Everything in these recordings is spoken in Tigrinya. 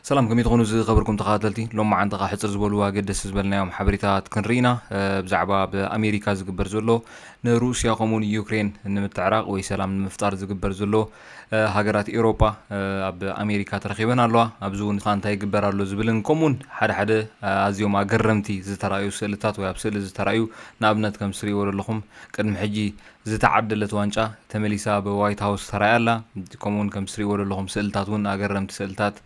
ሰላም ከመይ ትኾኑ ዝኸበርኩም ተኸታተልቲ ሎማዓንቲ ካብ ሕፅር ዝበሉ ኣገደሲ ዝበልናዮም ሓበሬታት ክንርኢ ኢና ብዛዕባ ብኣሜሪካ ዝግበር ዘሎ ንሩስያ ከምኡውን ዩክሬን ንምትዕራቕ ወይ ሰላም ንምፍጣር ዝግበር ዘሎ ሃገራት ኤውሮጳ ኣብ ኣሜሪካ ተረኺበን ኣለዋ፣ ኣብዚ እውን ከኣ እንታይ ይግበር ኣሎ ዝብልን ከምኡ እውን ሓደ ሓደ ኣዝዮም ኣገረምቲ ዝተራእዩ ስእልታት ወይ ኣብ ስእሊ ዝተራእዩ ንኣብነት ከም ትርእይዎ ዘለኹም ቅድሚ ሕጂ ዝተዓደለት ዋንጫ ተመሊሳ ኣብ ዋይት ሃውስ ተራእያ ኣላ ከምኡ እውን ከም ትርእይዎ ዘለኹም ስእልታት እውን ኣገረምቲ ስእልታት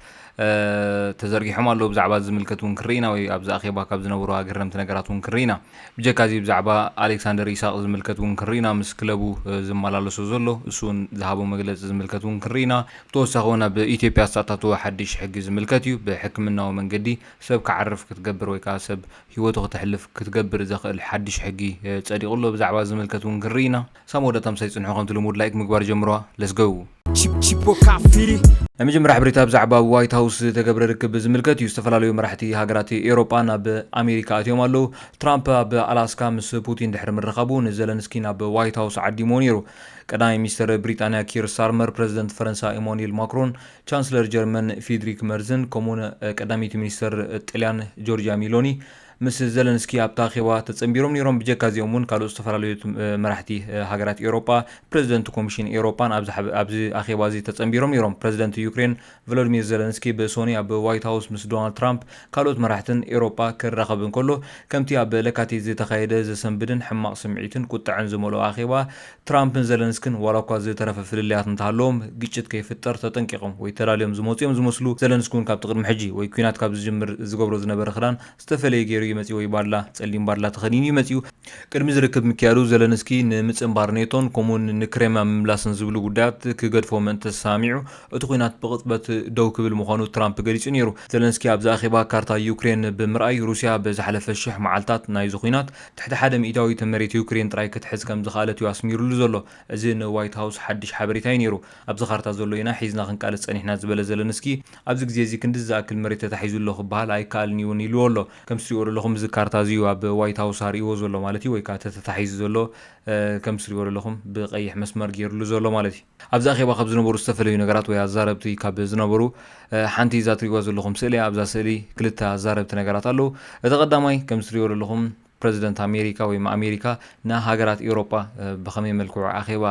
ተዘርጊሖም ኣለዉ ብዛዕባ ዝምልከት እውን ክንርኢ ኢና ወይ ኣብዚ ኣኼባ ካብ ዝነበሩ ኣገረምቲ ነገራት እውን ክንርኢ ኢና ብጀካ እዚ ብዛዕባ ኣሌክሳንደር ኢሳቕ ዝምልከት እውን ክንርኢ ኢና፣ ምስ ክለቡ ዝመላለሶ ዘሎ፣ እሱ እውን ዝሃቦ መግለፂ ዝምልከት እውን ክንርኢ ኢና። ብተወሳኺ እውን ኣብ ኢትዮጵያ ዝተኣታተወ ሓድሽ ሕጊ ዝምልከት እዩ፣ ብሕክምናዊ መንገዲ ሰብ ክዓርፍ ክትገብር ወይ ከዓ ሰብ ህይወቱ ክተሕልፍ ክትገብር ዘኽእል ሓድሽ ሕጊ ፀዲቑ ኣሎ፣ ብዛዕባ እዚ ዝምልከት እውን ክንርኢ ኢና። ሳም ወደ ታምሳ ይጽንሑ ከምቲ ልሙድ ላይክ ምግባር ጀምሩዋ let's go። ናይ መጀመርያ ሓበሬታ ብዛዕባ ኣብ ዋይት ሃውስ ዝተገብረ ርክብ ብዝምልከት እዩ። ዝተፈላለዩ መራሕቲ ሃገራት ኤውሮጳ ናብ ኣሜሪካ ኣትዮም ኣለዉ። ትራምፕ ኣብ ኣላስካ ምስ ፑቲን ድሕሪ ምርኻቡ ንዘለንስኪ ናብ ዋይት ሃውስ ዓዲምዎ ነይሩ። ቀዳማይ ሚኒስተር ብሪጣንያ ኪር ስታርመር፣ ፕረዚደንት ፈረንሳ ኢማኑኤል ማክሮን፣ ቻንስለር ጀርመን ፊድሪክ መርዝን ከምኡ'ውን ቀዳመይቲ ሚኒስተር ጥልያን ጆርጅያ ሚሎኒ ምስ ዘለንስኪ ኣብታ ኣኼባ ተጸንቢሮም ነይሮም። ብጀካ እዚኦም እውን ካልኦት ዝተፈላለዩ መራሕቲ ሃገራት ኤውሮጳ፣ ፕረዚደንት ኮሚሽን ኤውሮጳን ኣብዚ ኣኼባ እዚ ተጸንቢሮም ነይሮም። ፕረዚደንት ዩክሬን ቮሎድሚር ዘለንስኪ ብሶኑይ ኣብ ዋይት ሃውስ ምስ ዶናልድ ትራምፕ ካልኦት መራሕትን ኤውሮጳ ክራኸብ እንከሎ ከምቲ ኣብ ለካቲት ዝተኻየደ ዘሰንብድን ሕማቕ ስምዒትን ቁጠዐን ዝመልኦ ኣኼባ ትራምፕን ዘለንስክን ዋላኳ ዝተረፈ ፍልልያት እንተሃለዎም ግጭት ከይፍጠር ተጠንቂቖም ወይ ተላልዮም ዝመፁ እዮም ዝመስሉ። ዘለንስኪ እውን ካብቲ ቅድሚ ሕጂ ወይ ኲናት ካብ ዝጅምር ዝገብሮ ዝነበረ ክዳን ዝተፈለየ ገይሩ እዩ መፂኡ ወይ ባድላ፣ ፀሊም ባድላ፣ ተኸዲኑ እዩ መፂኡ። ቅድሚ እዚ ርክብ ምክያዱ ዘለንስኪ ንምፅንባር ኔቶን ከምኡውን ንክሬምያ ምምላስን ዝብሉ ጉዳያት ክገድፎ ምእንተ ተሰማሚዑ እቲ ዂናት ብቕፅበት ደው ክብል ምዃኑ ትራምፕ ገሊፁ ነይሩ። ዘለንስኪ ኣብዚ ኣኼባ ካርታ ዩክሬን ብምርኣይ ሩሲያ በዝሓለፈ ሽሕ መዓልታት ናይዚ ዂናት ትሕቲ ሓደ ሚእታዊ እታ መሬት ዩክሬን ጥራይ ክትሕዝ ከም ዝኸኣለት እዩ ኣስሚሩሉ ዘሎ። እዚ ንዋይት ሃውስ ሓድሽ ሓበሬታ እዩ ነይሩ። ኣብዚ ካርታ ዘሎ ኢና ሒዝና ክንቃለስ ጸኒሕና ዝበለ ዘለንስኪ፣ ኣብዚ ግዜ እዚ ክንድዚ ዝኣክል መሬት ተታሒዙ ኣሎ ክበሃል ኣይከኣልን እዩ እውን ኢሉዎ ኣሎ። ከምቲ ትሪእዎ ደለኹም እዚ ካርታ እዚ እዩ ኣብ ዋይት ሃውስ ኣርእይዎ ዘሎ ማለት እዩ ወይ ከኣ እቲ ተታሒዙ ዘሎ ከምቲ ትሪእዎ ደለኹም ብቀይሕ መስመር ገይሩሉ ዘሎ ማለት እዩ። ኣብዚ ኣኼባ ካብ ዝነበሩ ዝተፈለዩ ነገራት ወይ ኣዛረብቲ ካብ ዝነበሩ ሓንቲ እዛ ትሪእዋ ዘለኹም ስእሊ እያ። ኣብዛ ስእሊ ክልተ ኣዛረብቲ ነገራት ኣለዉ። እቲ ቀዳማይ ከምዚ ትሪእዎ ዘለኹም ፕረዚደንት ኣሜሪካ ወይ ኣሜሪካ ንሃገራት ኤውሮጳ ብኸመይ መልክዑ ኣኼባ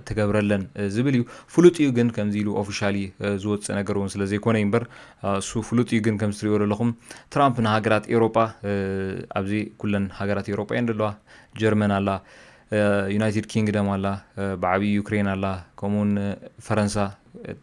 ትገብረለን ዝብል እዩ። ፍሉጥ እዩ ግን ከምዚ ኢሉ ኦፊሻሊ ዝወጽእ ነገር እውን ስለ ዘይኮነ እዩ እምበር እሱ ፍሉጥ እዩ ግን ከምዚ ትሪእዎ ዘለኹም ትራምፕ ንሃገራት ኤውሮጳ ኣብዚ ኩለን ሃገራት ኤውሮጳ እየን ዘለዋ ጀርመን ኣላ ዩናይትድ ኪንግደም ኣላ ብዓብዩ ዩክሬን ኣላ ከምኡ ውን ፈረንሳ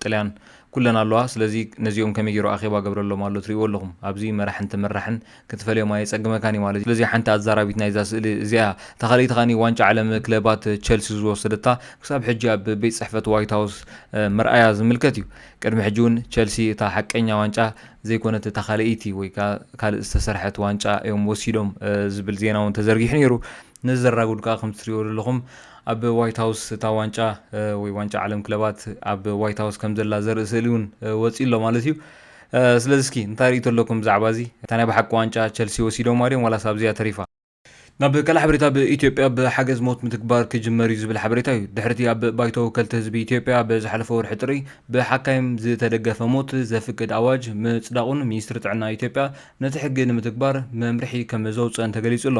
ጥልያን ኩለን ኣለዋ ስለዚ ነዚኦም ከመይ ገይሩ ኣኼባ ገብረሎም ኣሎ ትሪእዎ ኣለኹም ኣብዚ መራሕን ተመራሕን ክትፈልዮም ኣየጸግመካን እዩ ማለት ስለዚ ሓንቲ ኣዛራቢት ናይዛ ስእሊ እዚኣ እታ ካልኣይቲ ከኣ ዋንጫ ዓለም ክለባት ቸልሲ ዝወሰደታ ክሳብ ሕጂ ኣብ ቤት ጽሕፈት ዋይት ሃውስ ምርኣያ ዝምልከት እዩ ቅድሚ ሕጂ እውን ቸልሲ እታ ሓቀኛ ዋንጫ ዘይኮነት እታ ካልኣይቲ ወይ ካልእ ዝተሰርሐት ዋንጫ እዮም ወሲዶም ዝብል ዜና እውን ተዘርጊሑ ነይሩ ነዚ ዘራጉድ ከኣ ከምቲ ትሪእዎ ዘለኹም ኣብ ዋይት ሃውስ እታ ዋንጫ ወይ ዋንጫ ዓለም ክለባት ኣብ ዋይት ሃውስ ከም ዘላ ዘርኢ ስእሊ እውን ወጺኡ ኣሎ ማለት እዩ። ስለዚ እስኪ እንታይ ርእይቶ ኣለኩም ብዛዕባ እዚ? እታ ናይ ብሓቂ ዋንጫ ቸልሲ ወሲዶማ ድዮም ዋላስ ኣብዚኣ ተሪፋ? ናብ ካልእ ሓበሬታ ኣብ ኢትዮጵያ ብ ሓገዝ ሞት ምትግባር ክጅመር እዩ ዝብል ሓበሬታ እዩ ድሕሪ እቲ ኣብ ባይቶ ወከልቲ ህዝቢ ኢትዮጵያ ኣብ ዝሓለፈ ወርሒ ጥሪ ብሓካይም ዝተደገፈ ሞት ዘፍቅድ ኣዋጅ ምጽዳቑን ሚኒስትሪ ጥዕና ኢትዮጵያ ነቲ ሕጊ ንምትግባር መምርሒ ከም ዘውጽአን ተገሊጹ ኣሎ።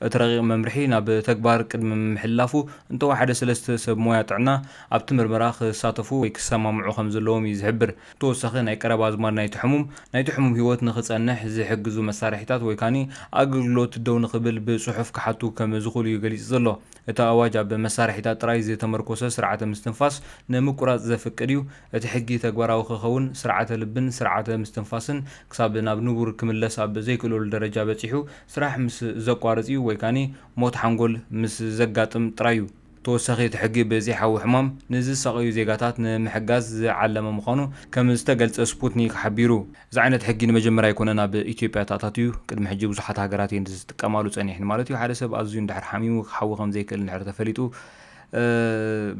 እቲ ረቂቕ መምርሒ ናብ ተግባር ቅድሚ ምምሕልላፉ እንተወሓደ ሰለስተ ሰብ ሞያ ጥዕና ኣብቲ ምርመራ ክሳተፉ ወይ ክሰማምዑ ከምዘለዎም እዩ ዝሕብር። ብተወሳኺ ናይ ቀረባ ኣዝማድ ናይቲ ሕሙም ናይቲ ሕሙም ህይወት ንክፀንሕ ዝሕግዙ መሳርሒታት ወይ ካኒ ኣገልግሎት ደው ንክብል ብፅሑፍ ክሓቱ ከም ዝኽእሉ እዩ ገሊፁ ዘሎ። እቲ ኣዋጅ ኣብ መሳርሒታት ጥራይ ዝተመርኮሰ ስርዓተ ምስትንፋስ ንምቁራፅ ዘፍቅድ እዩ። እቲ ሕጊ ተግባራዊ ክኸውን ስርዓተ ልብን ስርዓተ ምስትንፋስን ክሳብ ናብ ንቡር ክምለስ ኣብ ዘይክእለሉ ደረጃ በፂሑ ስራሕ ምስ ዘቋርጽ'ዩ ወይ ከኣ ሞት ሓንጎል ምስ ዘጋጥም ጥራይ'ዩ። ብተወሳኺ እቲ ሕጊ ብዘይሓዊ ሕማም ንዝሳቐዩ ዜጋታት ንምሕጋዝ ዝዓለመ ምዃኑ ከም ዝተገልጸ ስፑትኒክ ሓቢሩ። እዚ ዓይነት ሕጊ ንመጀመርያ ኣይኮነን ኣብ ኢትዮጵያ ተኣታትዩ። ቅድሚ ሕጂ ብዙሓት ሃገራት'የን ዝጥቀማሉ ጸኒሐን። ማለት'ዩ ሓደ ሰብ ኣዝዩ እንድሕር ሓሚሙ ክሓዊ ከም ዘይክእል እንድሕር ተፈሊጡ፣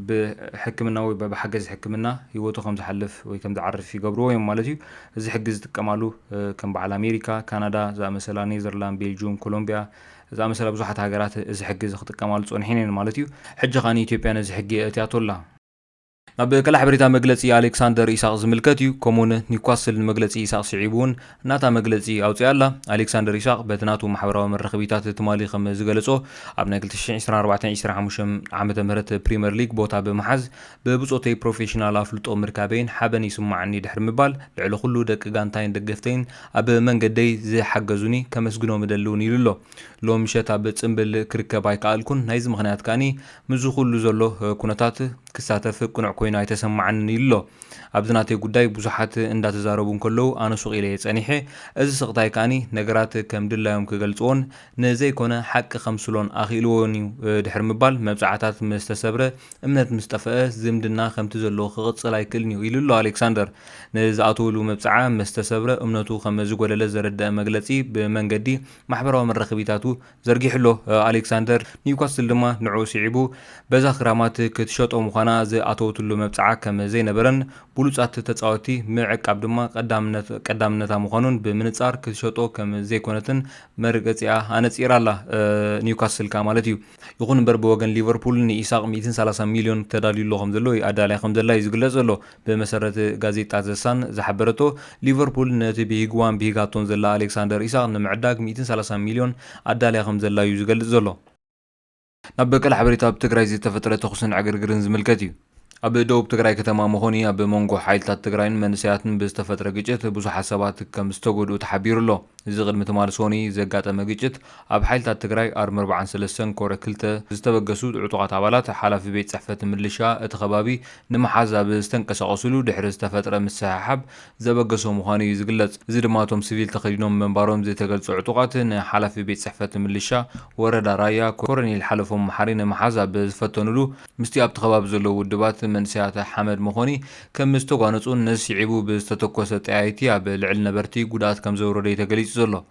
ብሕክምናዊ ወይ ብሓገዝ ሕክምና ህይወቱ ከም ዝሓልፍ ወይ ከም ዝዓርፍ ይገብርዎ እዮም ማለት እዩ። እዚ ሕጊ ዝጥቀማሉ ከም በዓል ኣሜሪካ፣ ካናዳ ዝኣመሰላ፣ ኔዘርላንድ፣ ቤልጁም፣ ኮሎምቢያ ዝኣመሰላ ብዙሓት ሃገራት እዚ ሕጊ እዚ ክጥቀማሉ ጸኒሐን እየን ማለት እዩ። ሕጂ ከኣ ኢትዮጵያ ነዚ ሕጊ የእትያቶ ኣላ። ናብ ቀላዕ በሬታ መግለጺ ኣሌክሳንደር ኢሳቕ ዝምልከት እዩ፣ ከምኡውን ኒውካስል ንመግለጺ ኢሳቕ ስዒቡ እውን ናታ መግለጺ ኣውጺኣ ኣላ። ኣሌክሳንደር ኢሳቕ በቲ ናቱ ማሕበራዊ መራኸቢታት ትማሊ ከም ዝገለጾ፣ ኣብ ናይ ክልተ ሽሕን ዕስራን ኣርባዕተን ዕስራን ሓሙሽተን ዓመተ ምህረት ፕሪመር ሊግ ቦታ ብምሓዝ ብብጾተይ ፕሮፌሽናል ኣፍልጦ ምርካበይን ሓበን ይስማዓኒ ድሕሪ ምባል ልዕሊ ኩሉ ደቂ ጋንታይን ደገፍተይን ኣብ መንገደይ ዝሓገዙኒ ከመስግኖም እደሊ እውን ኢሉ ኣሎ። ሎሚ ምሸት ኣብ ጽምብል ክርከብ ኣይከኣልኩን፣ ናይዚ ምኽንያት ከኣ ምስዚ ኩሉ ዘሎ ኩነታት ክሳተፍ ቅኑዕ ኮይኑ ኣይተሰማዓንን ኢሉ'ሎ። ኣብዚ ናተይ ጉዳይ ብዙሓት እንዳተዛረቡ እንከለዉ ኣነ ሱቕ ኢለ'የ ጸኒሐ፣ እዚ ስቕታይ ከኣ ነገራት ከም ድላዮም ክገልጽዎን ንዘይኮነ ሓቂ ከምስሎን ኣኽኢልዎኒ'ዩ ድሕሪ ምባል መብጽዓታት ምስ ተሰብረ እምነት ምስ ጠፈኣ ዝምድና ከምቲ ዘለዎ ክቕጽል ኣይክእልን'ዩ ኢሉ'ሎ። ኣሌክሳንደር ንዝኣተወሉ መብጽዓ ምስ ተሰብረ እምነቱ ከም ዝጎደለ ዘረደኣ መግለጺ ብመንገዲ ማሕበራዊ መራኸቢታቱ ዘርጊሑ ኣሎ። ኣሌክሳንደር፣ ኒውካስትል ድማ ንዕኡ ስዒቡ በዛ ክራማት ክትሸጦ ምዃና ዝኣተወትሉ መብጽዓ ከም ዘይነበረን ብሉጻት ተጻወትቲ ምዕቃብ ድማ ቀዳምነት ቀዳምነታ ምዃኑን ብምንጻር ክትሸጦ ከም ዘይኮነትን መርገጺኣ ኣነጺራ ኣላ፣ ኒውካስትል ከኣ ማለት እዩ። ይኹን እምበር ብወገን ሊቨርፑል ንኢሳቕ ሚእትን ሰላሳን ሚልዮን ተዳልዩሉ ከም ዘሎ ወይ ኣዳልያ ከም ዘላ እዩ ዝግለጽ ዘሎ። ብመሰረት ጋዜጣ ዘ ሳን ዝሓበረቶ፣ ሊቨርፑል ነቲ ብሂግዋን ብሂጋቶን ዘላ ኣሌክሳንደር ኢሳቕ ንምዕዳግ ሚእትን ሰላሳን ሚልዮን ኣዳልያ ከምዘላ'ዩ ዝገልጽ ዘሎ። ናብ በቀል ሓበሬታ ኣብ ትግራይ ዝተፈጥረ ተኹስን ዕግርግርን ዝምልከት እዩ። ኣብ ደቡብ ትግራይ ከተማ መኾኒ ኣብ መንጎ ሓይልታት ትግራይን መንእሰያትን ብዝተፈጥረ ግጭት ብዙሓት ሰባት ከምዝተጎድኡ ተሓቢሩ ኣሎ። እዚ ቅድሚ ትማሊ ሶኑይ ዘጋጠመ ግጭት ኣብ ሓይልታት ትግራይ ኣርሚ ኣርብዓን ሰለስተን ኮረ ክልተ ዝተበገሱ ዕጡቓት ኣባላት ሓላፊ ቤት ፅሕፈት ምልሻ እቲ ከባቢ ንምሓዝ ኣብ ዝተንቀሳቐስሉ ድሕሪ ዝተፈጥረ ምስሕሓብ ዘበገሶ ምዃኑ እዩ ዝግለፅ። እዚ ድማ እቶም ስቪል ተኸዲኖም ምንባሮም ዝተገልፁ ዕጡቓት ንሓላፊ ቤት ፅሕፈት ምልሻ ወረዳ ራያ ኮረኔል ሓለፎም መሓሪ ንምሓዝ ኣብ ዝፈተንሉ ምስቲ ኣብቲ ከባቢ ዘለዉ ውድባት መንእሰያት ሓመድ መኾኒ ከምዝተጓነፁን ንስዒቡ ብዝተተኮሰ ጠያይቲ ኣብ ልዕሊ ነበርቲ ጉድኣት ከምዘውረደ እዩ ተገሊፁ ዘሎ።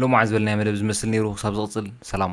ሎማዕ ዝበልናዮ መደብ ዝመስል ነይሩ ክሳብ ዝቕፅል ሰላም